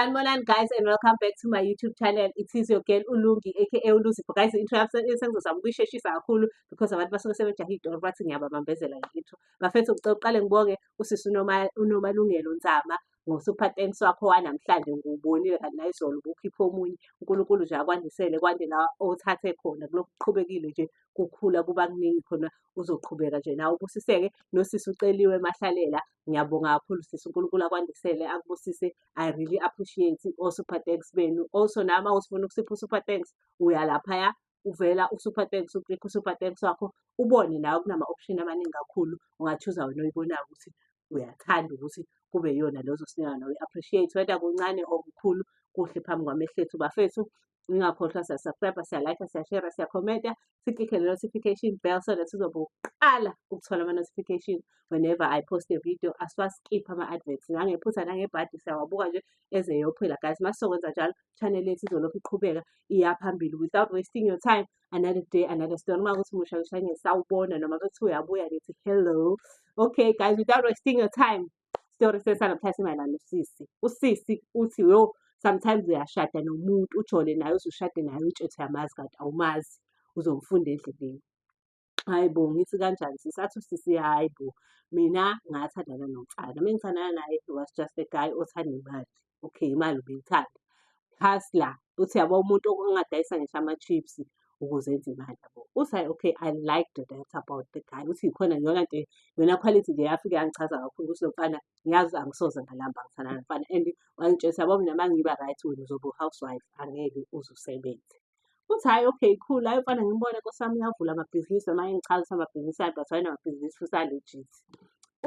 Sanibonani guys and welcome back to my YouTube channel. It is your girl Ulungi aka Uluzi. But guys, intro sengizozama ukuyisheshisa kakhulu because abantu basuke sebejahe idoro bathi ngiyababambezela ngintro. Bafethu ngicela uqale ngibonge usisi unoma unomalungelo Nzama ngosuper thanks wakho wanamhlanje ngubonile kanti nayizolo ubukhipha omunye uNkulunkulu nje akwandisele kwande la othathe khona kulokhu kuqhubekile nje kukhula kuba kuningi khona uzoqhubeka nje nawe ubusiseke nosisi uceliwe mahlalela ngiyabonga kakhulu sisi uNkulunkulu akwandisele akubusise I really appreciate o-super thanks benu also nama usifuna ukusipha u-super thanks uya laphaya uvela u-super thanks uklika u-super thanks wakho ubone nawe kunama-option amaningi kakhulu ungathuza wena oyibonayo ukuthi uyathanda ukuthi kube yona lezo sinika nawe appreciate whether kuncane or kukhulu kuhle phambi kwamehlethu bafethu ningakhohlwa siyasubscribe siyalayikha siyashera siyakhomenta siklikhe le notification bell so that sizobe uqala ukuthola ama-notification whenever i post a video asiwaskiphi ama-adverts nangephutha nangebhadi siyawabuka nje eze yophela guys uma sizokwenza njalo channel yethu izolokhu iqhubeka iya phambili without wasting your time another day another story noma ukuthi musha kushanye sawubona noma kuthi uyabuya nithi hello okay guys without wasting your time story sesana kuthatha imayelana usisi usisi uthi yo sometimes uyashada nomuntu ujole naye usushade naye utshethe yamazi kanti awumazi uzomfunda endleleni hayi bo ngithi kanjani sisi athi usisi hayi bo mina ngathandana nomfana uma ngithandana naye he was just a guy othanda imali okay imali ubeyithanda plus la uthi yabo umuntu ongadayisa ngisho ama-chips ukuze enze imali yabo uthi hayi okay i liked that about the guy uthi yikhona yona nje yona quality nje yafike yangichaza kakhulu ukuthi lomfana ngiyazi angisoze ngalamba ngithanda nomfana and wangitshela ukuthi yabo mina uma ngiba right wena uzobe u-housewife angeke uze usebenze Uthi hhayi okay cool, hhayi mfana ngimbone nkosi yami uyavula amabhizinisi noma engichaza ukuthi amabhizinisi akhe but wayenamabhizinisi futhi a-legit.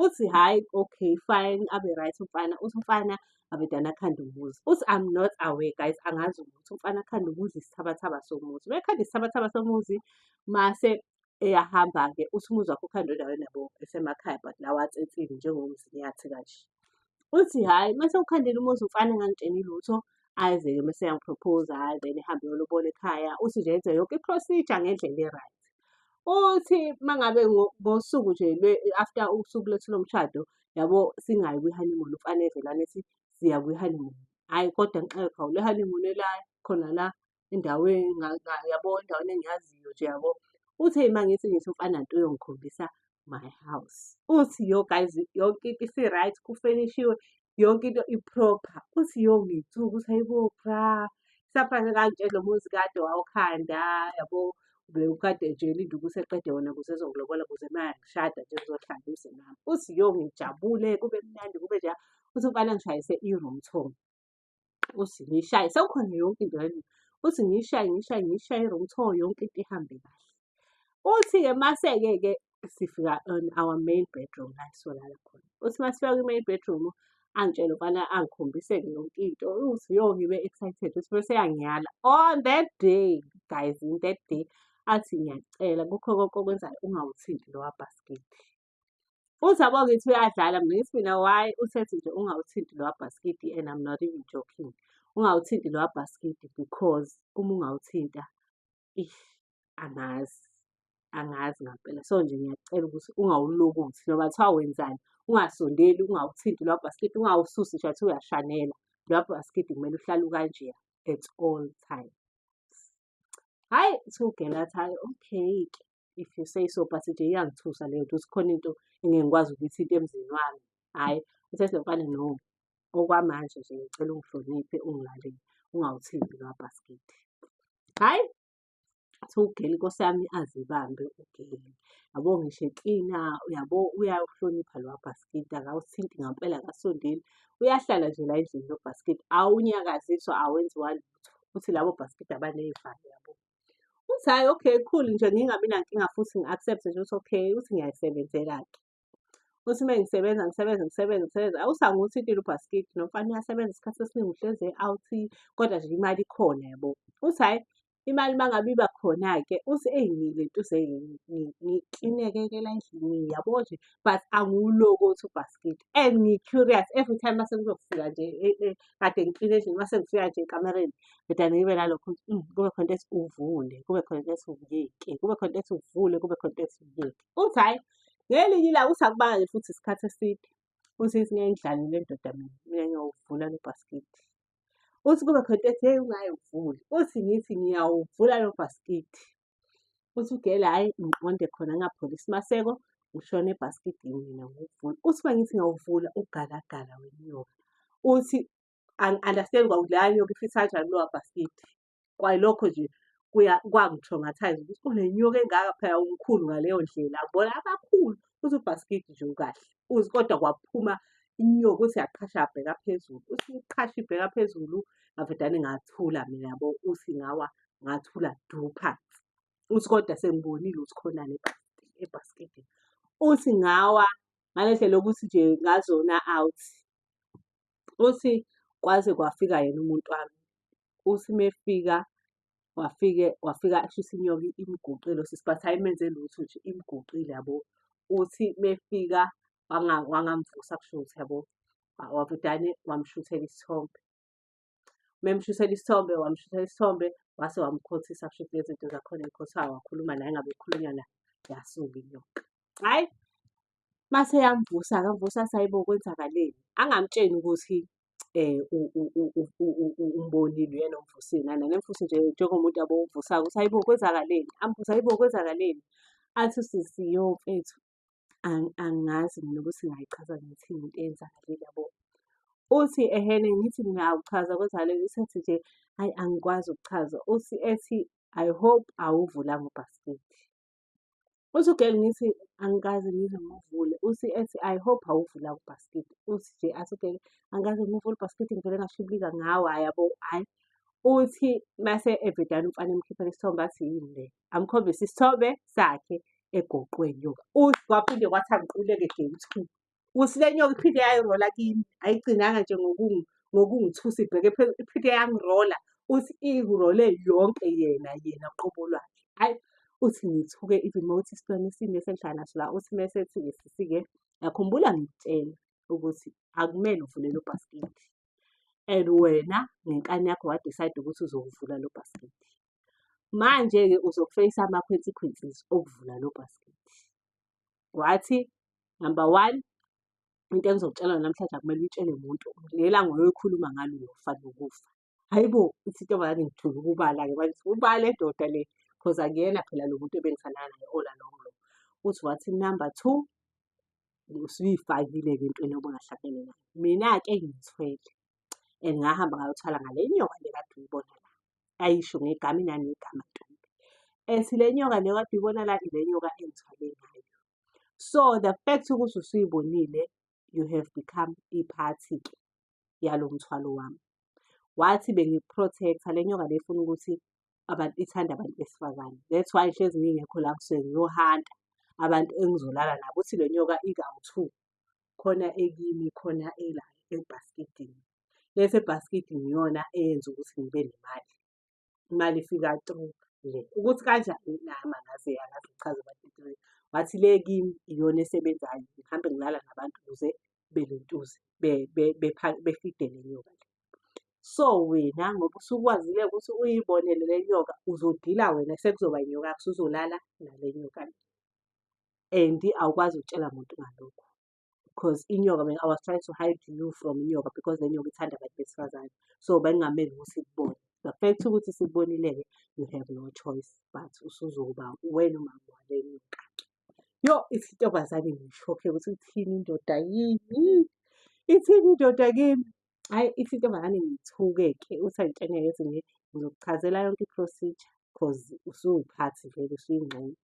Uthi hhayi okay fine abe right umfana, uthi umfana abedane akhande umuzi. Uthi I'm not aware guys, angazi ukuthi umfana akhande umuzi isithabathaba somuzi. Uma ekhanda isithabathaba somuzi mase eyahamba-ke uthi umuzi wakho ukhanda endaweni yabo esemakhaya but la watsetsile njengomzinyathi kanje uthi hhayi uma sewukhandela umuzi umfana engangitsheni lutho aze-ke uma seyangiprophoza hhayi then ehambe yolobona ekhaya uthi nje enze yonke i-procedure ngendlela e-right uthi uma ngabe ngosuku nje after usuku lethu lomshado yabo singayi kwi-honeymoon umfana evelane ethi siya kwi-honeymoon hhayi kodwa ngixakekhawu le honeymoon elayo khona la endaweni yabo endaweni engiyaziyo nje yabo. Uthe uma ngithi ngithi umfana nto uyongikhombisa my house. Uthi yo guys yonke into isi-right kufenishiwe yonke into i-proper. Uthi yo ngithuka ukuthi hayibo cha saphase kanje lo muzi kade wawukhanda yabo bewukade nje elinde ukuthi eqede wona kuze ezongilobola kuze uma ngishada nje kuzohlala uze nami. Uthi yo ngijabule kube mnandi kube nje uthi umfana ngishayise i-room tour. uthi ngishaye sekukhona yonke into yalena uthi ngishaye ngishaye ngishaye i-wrong turn yonke into ihambe kahle uthi-ke mase-ke-ke sifika on our main bedroom la solala khona uthi masifika kwi-main bedroom angitshele ukubana angikhombiseke yonke into uthi yo ngibe excited uthi bese yangiyala on that day guys in that day athi ngiyacela kukho konke okwenzayo ungawuthinti lowa bhaskidi Futhi yabo ngithi uyadlala mina ngithi mina why usethi nje ungawuthinti lowa bhaskidi and I'm not even joking. Ungawuthinti lowa bhaskidi because uma ungawuthinta ish angazi angazi ngampela so nje ngiyakucela ukuthi ungawulokothi noma kuthiwa wenzani ungasondeli ungawuthinti lowa bhaskidi ungawususi nje wathi uyashanela lowa bhaskidi kumele uhlale ukanjeya at all time. Hhayi kuthiwa ugela athi hhayi okay-ke if you say so but nje iyangithusa leyo nto ukuthi khona into engeke ngikwazi ukuyithinta emzini wami. Hhayi uthe lo mfana no okwamanje nje ngicela ungihloniphe ungilalele ungawuthinti lowa bhasikidi. Hhayi kuthiwa ugeli nkosi yami azibambe ugeli yabo ngisho eklina yabo uyawuhlonipha lowa bhasikidi akawuthinti ngampela akasondeli uyahlala nje la endlini lo bhasikidi awunyakaziswa awenziwa lutho ukuthi labo bhaskidi abaney'valo yabo uthi hhayi okay cool nje ngingabi nankinga futhi ngi-accepte nje ukuthi okay uthi ngiyayisebenzela-ke uthi uma ngisebenza ngisebenza ngisebenza ngisebenza awusanguthi into ilubhaskidi nomfana uyasebenza isikhathi esiningi uhlezi out kodwa nje imali ikhona yabo uthi hhayi imali uma ngabe iba khona-ke uthi eyi ngile nto ngiklinekekela endlini yabo nje but angiwulokothi ubhaskidi and ngi-curious every time uma sekuzofika nje e, e, kade ngiqine nje uma sengifika nje ekamereni ngidane ngibe nalokho ukuthi "Mm, kube khona into ethi uvule kube khona into ethi uvuleke kube khona into ethi uvule kube khona into ethi uvuleke uthi hhayi ngelinye ilanga uthi akubanga nje futhi isikhathi eside uthi ithi ngeke ngidlale le ndoda mina mina ngiyawuvula lo bhasikidi uthi kube khona into ethi heyi ungayewuvuli uthi ngithi ngiyawuvula lo bhasikidi uthi ugele hhayi ngiqonde khona ngapholi isimaseko ushone ebhaskidini mina ngokuvula uthi uma ngithi ngawuvula ugalagala wenyoka uthi angi-understand kwakuthi leya nyoka ifitha kanjani kulowa bhaskidi kwayilokho nje kwangi-traumatise ukuthi unenyoka engaka phela umkhulu ngaleyo ndlela abona abakhulu uthi ubhaskidi nje ukahle uzi kodwa kwaphuma inyoka ukuthi yaqhasha yabheka phezulu uthi iqhasha ibheka phezulu ngavedane ngathula mina yabo uthi ngawa ngathula du phansi uthi kodwa sengibonile ukuthi khonani ebhaskidini uthi ngawa ngale ndlela yokuthi nje ngazona out uthi kwaze kwafika yena umuntu wami uthi mefika wafike wafika shuthi inyoka imguqile usisi but ayimenze lutho nje imguqile yabo uthi mefika wangamvusa kusho ukuthi yabo wavudane wamshuthela isithombe memshusela isithombe wamshusela isithombe wase wamkhothisa kusho ukuthi lezinto zakhona ekhothayo wakhuluma naye ngabe ekhulunywa naye yasuka inyoka hhayi mase yamvusa akamvusa sayibo kwenzakaleni angamtsheni ukuthi eh umbonile uyena omvusile nana nemfusi nje njengomuntu abowuvusako ukuthi hayibo kwenzakaleni ambuza hayibo kwenzakaleni athi usisiyo mfethu angazi mina ukuthi ngayichaza ngithini into eyenzakale yabo. Uthi ehene ngithi mina awuchaza kodwa leli usethi nje ayi angikwazi ukuchaza. Uthi ethi I hope awuvulanga ubhasikidi. Uthi ugel ngithi angikaze ngize ngivule. Uthi ethi I hope awuvulanga ubhasikidi. Uthi nje athi ugel angikaze ngivule ubhasikidi ngivele ngashibilika ngawo hhayi yabo hhayi. Uthi mase evedane umfana emkhiphela isithombe athi yini le. amkhombise isithobe sakhe egoqweni yo uthi kwaphinde kwathi angiquleke day two uthi le nyoka iphinde yayirola kimi ayigcinanga nje ngokungi- ngokungithusa ibheke phezulu iphinde yangirola uthi irole yonke yena yena qobo lwakhe hayi uthi ngithuke even uma uthi isitwana isimo esengihlala naso la uthi uma esethi ngisisi-ke ngakhumbula ngikutshela ukuthi akumele uvule lo bhasikidi and wena ngenkani yakho wadicide ukuthi uzowuvula lo bhasikidi Manje-ke uzofeyisa ama-consequences okuvula lo bhasikidi. Wathi, number one, into engizokutshela namhlanje akumele uyitshele muntu. Ngelanga oyoyikhuluma ngalo uyofanele ukufa. Hhayi bo, ithi intombazane ngithule ukubala-ke manje, ubale ndoda le because akuyena phela lo muntu ebengithandana naye all along lo. Uthi wathi number two, usuyifakile-ke entweni obungahlangene nayo. Mina-ke ngithwele. and ngahamba ngayothwala ngale nyoka le kade uyibona la ayisho ngegama inanegama ntombi and le nyoka le kade uyibona la ile nyoka engithwale ngayo so the fact ukuthi usuyibonile you have become iphathi-ke yalo mthwalo wami wathi bengiprotector le nyoka lefuna ukuthi abantu ithanda abantu besifazane that's why hlezi ngingekho la kusuke ngiyohanta abantu engizolala nabo uthi le nyoka ikawu-two khona ekimi khona ela ebhaskidini bese ibhaskidi ngiyona eyenza ukuthi ngibe nemali imali ifika through le ukuthi kanjani nami angazi angazi kuchaza abantu wathi le kimi iyona esebenzayo ngihambe ngilala nabantu ukuze belentuze befidele nyoka le so wena ngoba usukwazile ukuthi uyibonele le nyoka uzodila wena sekuzoba inyoka yakho usuzolala nale nyoka le and awukwazi ukutshela muntu ngalokho because inyoka mina I was trying to hide you from inyoka because le nyoka ithanda abantu besifazane so bengingameli ukuthi ikubone the fact ukuthi sikubonile-ke you have no choice but usuzoba wena umama wale nyoka yo ithi intombazane ngishokhe ukuthi ithini indoda yini ithini indoda kimi Hhayi ithi intombazane ngithuke-ke uthi angitshene ngezinye ngizokuchazela yonke i-procedure cause usuwuphathi vele usuyingxenye.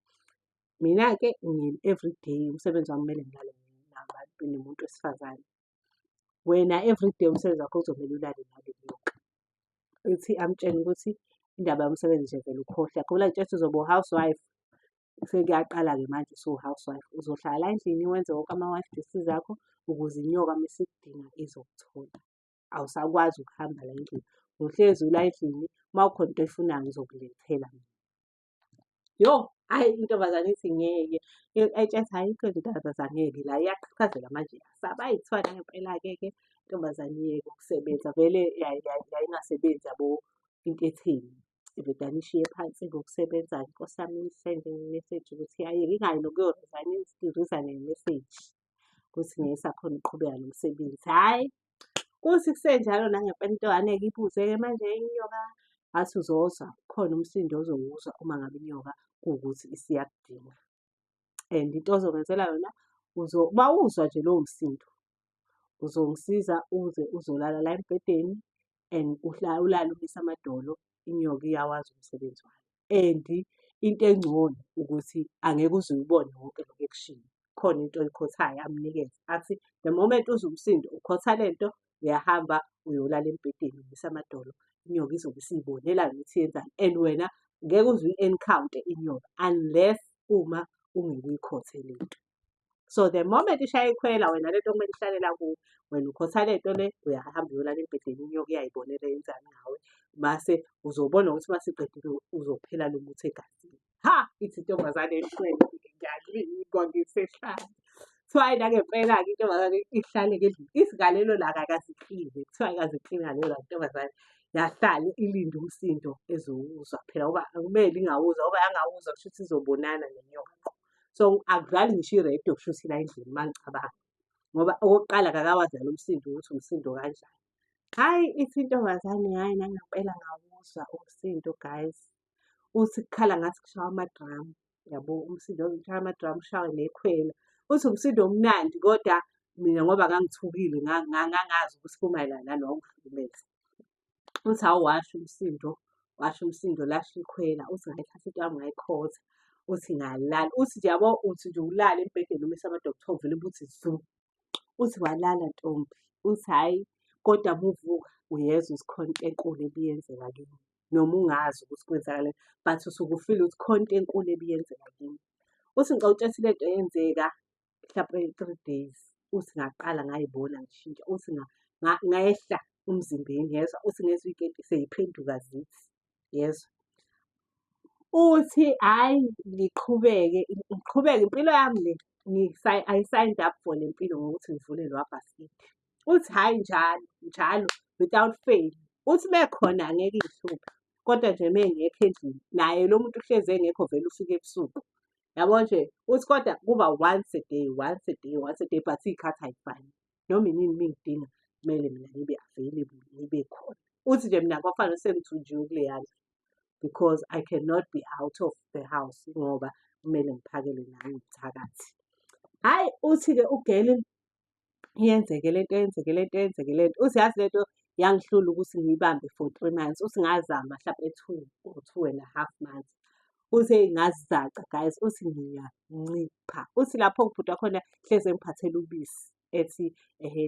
Mina-ke everyday umsebenzi wami kumele ngilale nabantu nomuntu wesifazane. Wena everyday umsebenzi wakho kuzomele ulale nale nyoka. Ithi amtshene ukuthi indaba yomsebenzi nje vele ukhohlwe akho la nje uzoba u-housewife sekuyaqala-ke manje usuwu-housewife uzohlala la endlini wenze wonke ama-wife duties akho ukuze inyoka uma isikudinga izokuthola awusakwazi ukuhamba la endlini uhlezi ula endlini uma ukhona into oyifunayo ngizokulethela mina yo hhayi intombazane ithi ngeke etsheth hhayi ikho intombazane ngeke la iyaqhaqhazela manje yasaba ayithwana ngempela-ke ke intombazane iyeke ukusebenza vele yayingasebenzi yabo into etheni indoda nishiye phansi ngokusebenza nkosi yami nisende ngemeseji ukuthi aye ngingayi nokuyorizayina ngirizayine ngemeseji ukuthi ngeke sakhona ukuqhubeka nomsebenzi hhayi kuthi kusenjalo nangempela into angeke ibuze-ke manje inyoka athi uzozwa khona umsindo ozowuzwa uma ngabe inyoka kuwukuthi isiyakudinga and into ozokwenzela yona uma uzwa nje lowo msindo uzongisiza uze uzolala la embhedeni and ulale umise amadolo inyoka iyawazi umsebenzi wayo and into engcono ukuthi angeke uze uyibone wonke lokhu ekushiwo khona into oyikhothayo amnikeze athi the moment uze umsindo ukhotha le nto uyahamba uyolala embhedeni umise amadolo inyoka izobe isiyibonela ukuthi yenzani and wena ngeke uze uyi-encounter inyoka unless uma ungeke uyikhothe le nto so the moment ishaya ikhwela wena lento kumele ihlalela kuwe wena ukhotha lento le uyahamba uyolala embhedeni inyoka iyayibonela yenzani ngawe mase uzobona ukuthi masiqedile uzophela lo muthi egazini ha ithi intombazane ehlwele ngiyalingwa ngisehlala kuthiwa yena ngempela-ke intombazane ihlale ngendlini isigalelo la kakaziphile kuthiwa ikaziphile ngalelo la ntombazane yahlale ilinde umsindo ezowuzwa phela uba akumele ingawuzwa uba yangawuzwa kusho ukuthi izobonana nenyoka so akudlali ngisho iredo kushuthi la endlini uma ngicabanga ngoba okokuqala kakawazali umsindo ukuthi umsindo kanjani hhayi ithi intombazane hhayi nangempela ngawuzwa umsindo guys uthi kukhala ngathi kushawa amadramu yabo umsindo kushawa amadramu ushawe nekhwela uthi umsindo omnandi kodwa mina ngoba ngangithukile ngangazi ukuthi kumayelana naloko msebenzi uthi hawu washo umsindo washo umsindo lasho ikhwela uthi ngayithatha into yami ngayikhotha uthi ngalala uthi nje yabo uthi nje ulale embhedeni umisa amadokotha ovele ubuthi zu uthi walala ntombi uthi hhayi kodwa muvuka uyezwa isikhona into enkulu ebiyenzeka kimi noma ungazi ukuthi kwenzakale but usuke ufile ukuthi khona into enkulu ebiyenzeka kimi uthi ngicela utshela into eyenzeka mhlawumpe three days uthi ngaqala ngayibona ngishintsha uthi ngayehla umzimbeni yezwa uthi ngezwa ikenti seyiphenduka zithi yezwa uthi hhayi ngiqhubeke ngiqhubeke impilo yami le I signed up for le mpilo ngokuthi ngivule lo abhasikidi uthi hhayi njalo njalo without fail uthi mekhona angeke ihluphe kodwa nje mengekho endlini naye lo muntu uhlezi engekho vele ufike ebusuku yabo nje uthi kodwa kuba once a day once a day once a day but iy'khathi ayifani noma inini mingidinga kumele mina ngibe available ngibe khona uthi nje mina kwafanele sengithunjiwe kuleya ndlu because i cannot be out of the house ngoba kumele ngiphakele nami ngithakathi hhayi uthi-ke ugeli yenzeke lento yenzeke lento yenzeke lento uthi yazi lento yangihlula ukuthi ngiyibambe for three months uthi ngazama mhlawumbe two or two and a half months uthi ngazizaca guys uthi ngiyancipha uthi lapho ngibhuda khona hleze engiphathela ubisi ethi ehe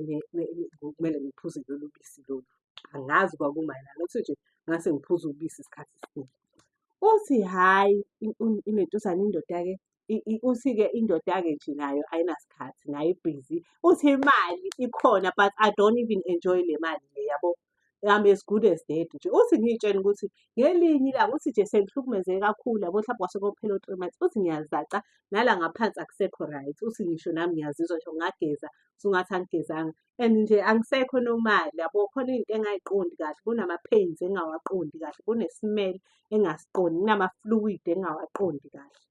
kumele ngiphuze lolu bisi lolu angazi kwakumayelana uthi nje ngase ngiphuza ubisi isikhathi esiningi uthi hhayi inentuzana indoda-ke uthi-ke indoda-ke nje nayo ayinasikhathi nayo ibhizi uthi imali ikhona but i don't even enjoy le mali le yabo I'm as good as dead nje uthi ngiyitshela ukuthi ngelinye ilanga uthi nje sengihlukumezeke kakhulu yabo mhlawumbe kwase kophela u-three months uthi ngiyazaca nala ngaphansi akusekho right uthi ngisho nami ngiyazizwa nje ngingageza usungathi angigezanga and nje angisekho nomali yabo khona into engayiqondi kahle kunama-pains engawaqondi kahle kune-smell engasiqondi kunama-fluid engawaqondi kahle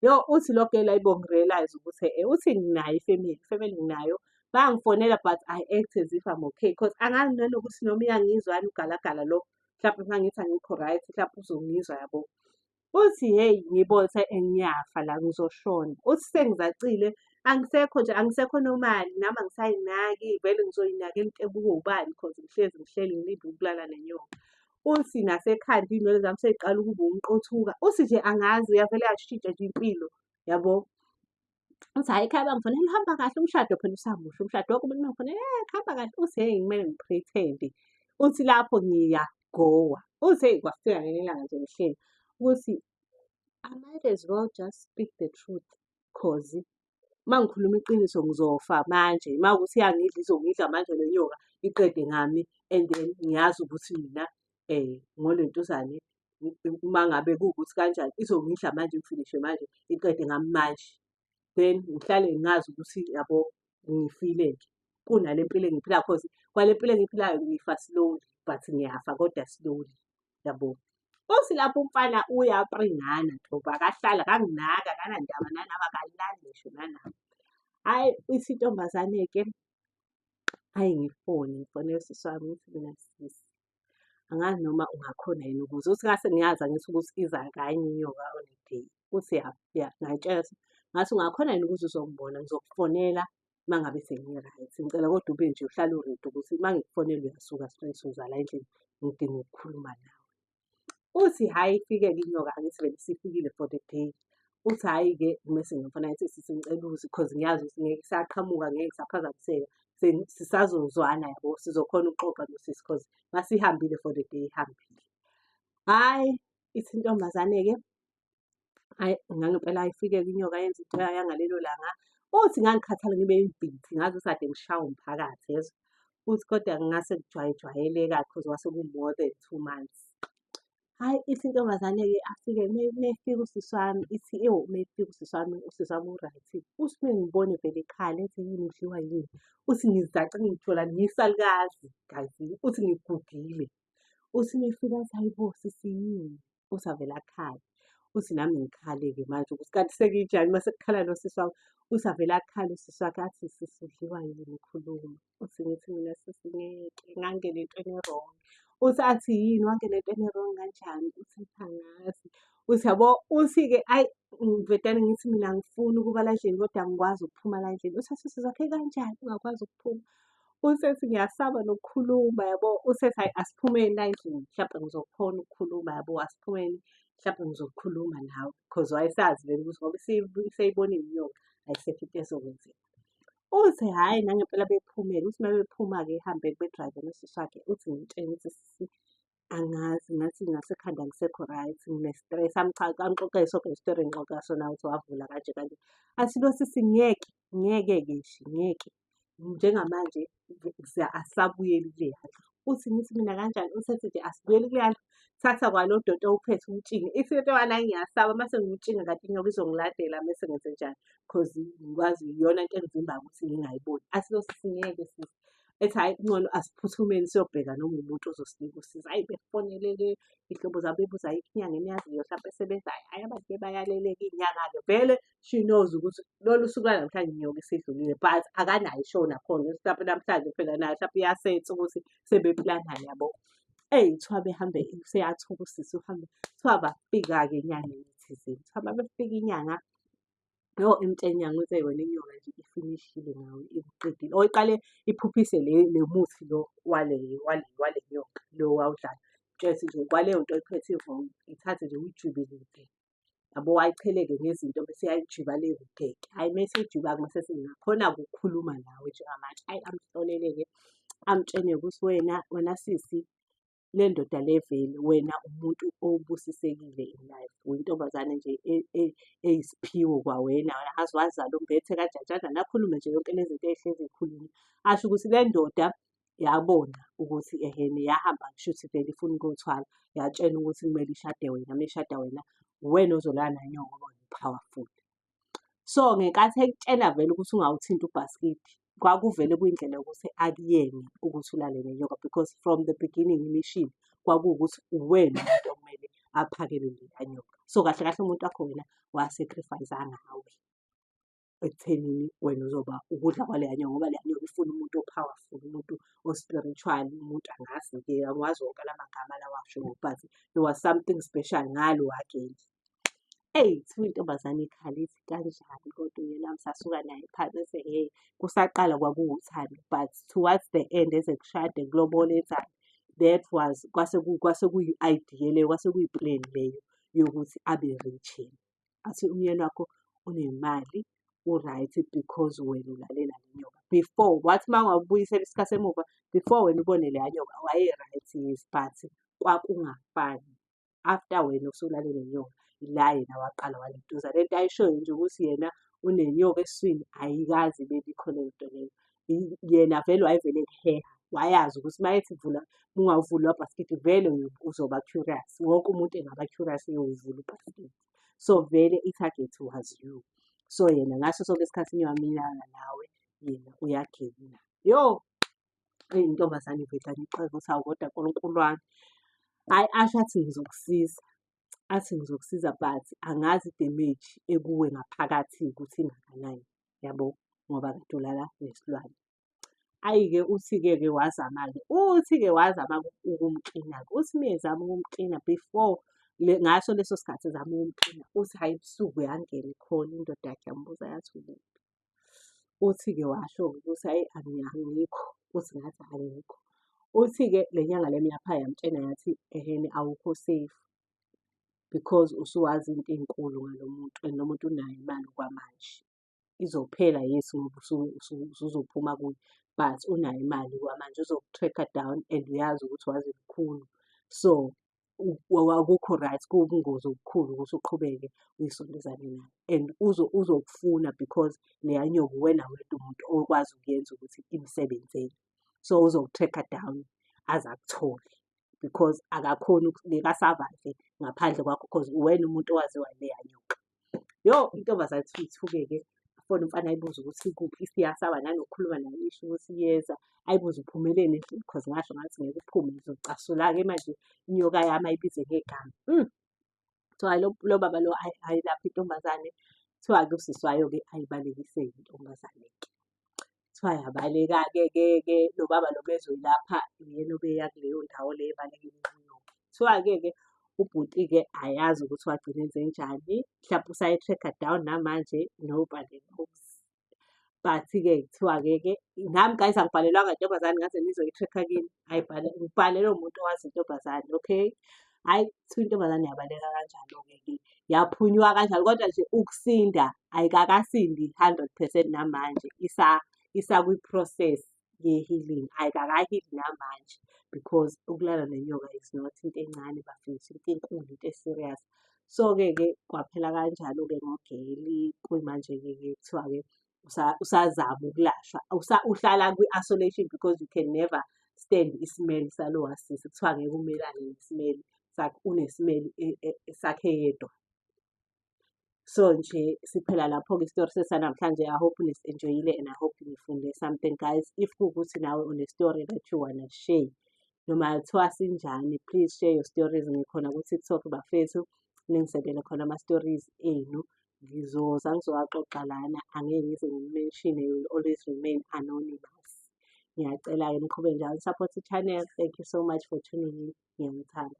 yo uthi lokho elayibo ngirealize ukuthi e uthi nginayo ifamily ifamily nginayo bangifonela but i act as if i'm okay because angazi nanokuthi noma iyangizwani ugalagala lo mhlawumbe uma ngithi angikho right mhlawumbe uzongizwa yabo uthi hey ngibone ukuthi ngiyafa la ngizoshona uthi sengizacile angisekho nje angisekho nomali nami angisayinaki vele ngizoyinakela into ebuke ubani cause ngihlezi ngihleli ngilinde ukulala nenyoka uthi nasekhanda iy'nwele zami seyiqala ukuba umqothuka uthi nje angazi uyavele yashintsha nje impilo yabo uthi hhayi ekhaya bangifonela uhamba kahle umshado phela usamusha umshado wakho umuntu mangifonela e eh, kuhamba kahle uthi heyi kumele ngipretende uthi lapho ngiyagowa uthi heyi kwafika ngenye ilanga nje ngihleli ukuthi I might as well just speak the truth cause uma ngikhuluma iqiniso ngizofa manje uma ukuthi iyangidla izongidla manje le nyoka iqede ngami and then ngiyazi ukuthi mina um ngolentuzane uma ngabe kuwukuthi kanjani izongidla manje ngifinishe manje iqede ngami manje then ngihlale ngazi ukuthi yabo ngifile-ke kunale mpilo engiphila cause kwale mpilo engiphilayo ngifa slowly but ngiyafa kodwa slowly yabo Futhi lapho umfana uyapringana thoba akahlali akanginaki akanandaba nanaba akalali ngisho nanami. Hhayi ithi intombazane-ke hhayi ngifone, ngifonela usisi wami ngithi mina sisi angazi noma ungakhona yini ukuze uthi ngase ngiyazi angithi ukuthi iza kanye inyoka on a day uthi ya ya ngayitshela ukuthi ngathi ungakhona yini ukuthi uzokubona ngizokufonela uma ngabe sengi-right ngicela kodwa ube nje uhlale uready ukuthi uma ngikufonela uyasuka straight uzala endlini ngidinga ukukhuluma nawe uthi hhayi ifike-ke inyoka angisivele sifikile for the day uthi hhayi-ke mese ngimfuna ethi sisinceluzi because ngiyazi ukuthi ngeke saqhamuka ngeke saphazamiseka sisazozwana yabo sizokhona ukuxoxa nosisi because masihambile for the day ihambile hhayi ithi intombazane-ke Ayi ngangempela ayifike-ke inyoka yenza into yayo yangalelo langa. Uthi ngangikhathala ngibe yibhithi ngaze sade ngishawa umphakathi yezwa. Uthi kodwa ngase kujwayejwayeleka cause kwase ku more than two months. Hhayi ithi intombazane-ke afike mefika usisi wami ithi ewu mefika usisi wami, usisi wami u-right. Uthi uma engibona evele ekhala ethi yini udliwa yini. Uthi ngizace ngitholani ngiyisalukazi kazi uthi ngigugile. Uthi mefika athi hhayi bo sisi yini. usavele akhale uthi nami ngikhale-ke manje ukuthi kanti sekijani uma sekukhala nosisi wami usavele akhale usisi wakhe athi sisi udliwa yini ukhuluma uthi ngithi mina sisi ngeke ngangena entweni erong uthi athi yini wangena entweni erong kanjani uthi ngiphangasi uthi yabo uthi-ke ayi ngivedane ngithi mina ngifuni ukuba la ndlini kodwa ngikwazi ukuphuma la ndlini uthi athi sisi wakhe kanjani ungakwazi ukuphuma Usesi ngiyasaba nokukhuluma yabo, usesi hhayi asiphumeni la endlini mhlampe ngizokhona ukukhuluma yabo, asiphumeni mhlampe ngizokhuluma nawe because wayesazi vele ukuthi ngoba isibu- iseyibonile inyoka ayisekho into ezokwenzeka. Uthi hhayi nangempela bephumele, uthi uma bephuma-ke ehambeke bedrayive nosisi wakhe, uthi ngimtshele ukuthi sisi angazi ngathi ngase khanda ngisekho right ngine stress amchaca amxoxe soke story ngixoxa sona ukuthi wavula kanje kanje athi lo sisi ngeke ngeke ke shi ngeke njengamanje asabuyeli kule yandlu uthi ngithi mina kanjani usethi nje asibuyeli kule yandlu thatha kwalo doti owuphethe umtshinge if into yona ngiyasaba mase ngiwutshinga ngathi inyoka izongiladela mese ngenze njani cause ngikwazi iyona into engivimbayo ukuthi ngingayiboni athi lo sisi ngeke sisi ethi hayi ncono asiphuthumeni siyobheka noma umuntu ozosinika usiza hayi befonelele ihlobo zabo bebuza ayikho inyanga eniyaziyo hlampe esebenzayo hayi abantu bebayaleleka iy'nyanga-ke vele she knows ukuthi lolu suku lanamhlanje nyoka isidlulile but akanayo ishow nakhona hlampe namhlanje phela nayo hlampe iyasetha ukuthi sebeplana yabo eyi kuthiwa behambe seyathuka usisi uhambe kuthiwa bafika-ke enyangeni thizeni kuthiwa babefika inyanga Yho emtshenya ngithi wena inyoka nje ifinishile nawe ikuqedile. Or iqale iphuphise le le muthi lo wale wale wale nyoka lo wawudlala. Just nje kwaleyo nto iphethe ivumba ithathe nje uyijube kude. Yabo wayicheleke ngezinto bese yayijuba le kude. Hhayi uma isiyijuba mase singakhona ukukhuluma nawe njengamanje. Hhayi amhlolele-ke amtshene ukuthi wena wena sisi le ndoda le vele wena umuntu obusisekile in life uyintombazane nje e- e- eyisiphiwo kwawena wena aze wazala umbethe kanjanjana nakhulume nje yonke lezi zinto ehlezi ikhuluma asho ukuthi le ndoda yabona ukuthi ehene yahamba kushuthi vele ifuna ukuyothwala yatshena ukuthi kumele ishade wena uma ishada wena uwena ozolala nayo ngoba wena powerful so ngenkathi ekutshela vele ukuthi ungawuthinti ubhaskidi kwakuvele kuyindlela yokuthi akuyene ukuthi ulale nenyoka because from the beginning imishini kwakuwukuthi uwena umuntu okumele aphakele leya nyoka so kahle kahle umuntu wakho wena wasacrifice ngawe ekuthenini wena uzoba ukudla kwaleya nyoka ngoba leya nyoka ifuna umuntu o-powerful umuntu o-spiritual umuntu angazi ke angiwazi wonke la magama lawasho but there was something special ngalo wageli Eyi kuthiwa intombazane ikhala ithi kanjani kodwa uyena ngisasuka naye phansi ethi hhe kusaqala kwakuwuthando but towards the end eze kushade kulobole enzani that was kwase kwase kuyi-idea leyo kwase kuyi-plan leyo yokuthi abe rich yena. Athi umyeni wakho unemali u-right because wena ulalela le nyoka. Before wathi uma ngingakubuyisela isikhathi emuva before wena ubone leya nyoka waye-right yes but kwakungafani. after wena usulale nenyoka ila yena waqala waliduza le nto ayishoyo nje ukuthi yena unenyoka eswini ayikazi bebikho le nto leyo yena vele wayevele kuheha wayazi ukuthi uma ethi vula ungawuvuli wabhasikidi vele uzoba curious wonke umuntu engaba curious eyowuvula ubhasikidi so vele i-target was you so yena ngaso sonke isikhathi ngiwamilana nawe yena uyagina yo eyi ntombazane iveda ngixoke ukuthi awu kodwa nkulunkulu wami hhayi asho athi ngizokusiza athi ngizokusiza but angazi idemage ekuwe ngaphakathi ukuthi ingakanani yabo ngoba kade ulala nesilwane ayi-ke uthi-ke ke wazama-ke uthi-ke wazama ukumklina-ke uthi uma ezama ukumklina before ngaso leso sikhathi ezama ukumklina uthi hhayi ebusuku yangena ikhona indoda yakhe yambuza yathi ukuphi Uthi-ke washo ukuthi ayi angikho, uthi ngathi angikho. Uthi-ke le nyanga le mlapha yamtshena yathi ehhene awukho safe because usuwazi izinto ey'nkulu ngalo muntu and lo muntu unayo imali okwamanje. Izophela yes ngoba usuzophuma kuye but unayo imali okwamanje uzoku-track-a down and uyazi ukuthi wazi lukhulu. So, akukho right kuwubungozi obukhulu ukuthi uqhubeke uyisondezane nayo and uzokufuna because leya nyoka uwena wedwa umuntu okwazi ukuyenza ukuthi imsebenzele so uzoku-tracker down aze akuthole because akakhoni ngeke asurvive ngaphandle kwakho because uwena umuntu owaziwa leya nyoka. yo intombazane ithi ithukeke fona umfana ayibuza ukuthi kuphi isiyasaba nanokukhuluma nayo isho ukuthi iyeza ayibuza uphumeleni because ngasho ngathi ngeke uphume ngizocasula-ke manje inyoka yami ayibize ngegama mm. kuthiwa lo baba lo ayilapha intombazane kuthiwa-ke usisi wayo-ke ayibalekiseki intombazane-ke Kuthiwa yabaleka-ke ke ke lo baba lo bezoyilapha uyena obeya kuleyo ndawo le ebaleka iminqinoke. Kuthiwa-ke ke ubhuti-ke ayazi ukuthi wagcina enzenjani, mhlawumpe usayi-track-a down namanje nobody knows. But-ke kuthiwa-ke ke nami guys angibhalelwanga ntombazane ngaze ngizoyi-track-a kini, ayibhalelwe ngibhalelwe umuntu owazi intombazane okay. hhayi kuthiwa intombazane yabaleka kanjalo-ke ke yaphunywa kanjalo kodwa nje ukusinda ayikakasindi hundred percent namanje isa isakwi-process ye-healing ayikakahili namanje because ukulala nenyoka is not into encane bafundisa into enkulu into e-serious so-ke ke kwaphela kanjalo-ke ngogeli kuyimanje-ke ke kuthiwa-ke usazama ukulashwa uhlala kwi-isolation because you can never stand isimeli salowa sisi kuthiwa ngeke umelane nesimeli sakhe unesimeli e, e, sakhe yedwa so nje siphela lapho-ke isitori sesanamhlanje i hope nisi-enjoyile and i hope nifunde something guys if kuwukuthi nawe unestory that you wanna share noma kuthiwa sinjani please share your stories ngikhona ku-tiktok bafethu ningisekele khona ama-stories enu ngizoza ngizowaxoxa lana angeke ngize ngimention you will always remain anonymous ngiyacela-ke niqhube njalo support i-channel thank you so much for tuning in ngiyanithanda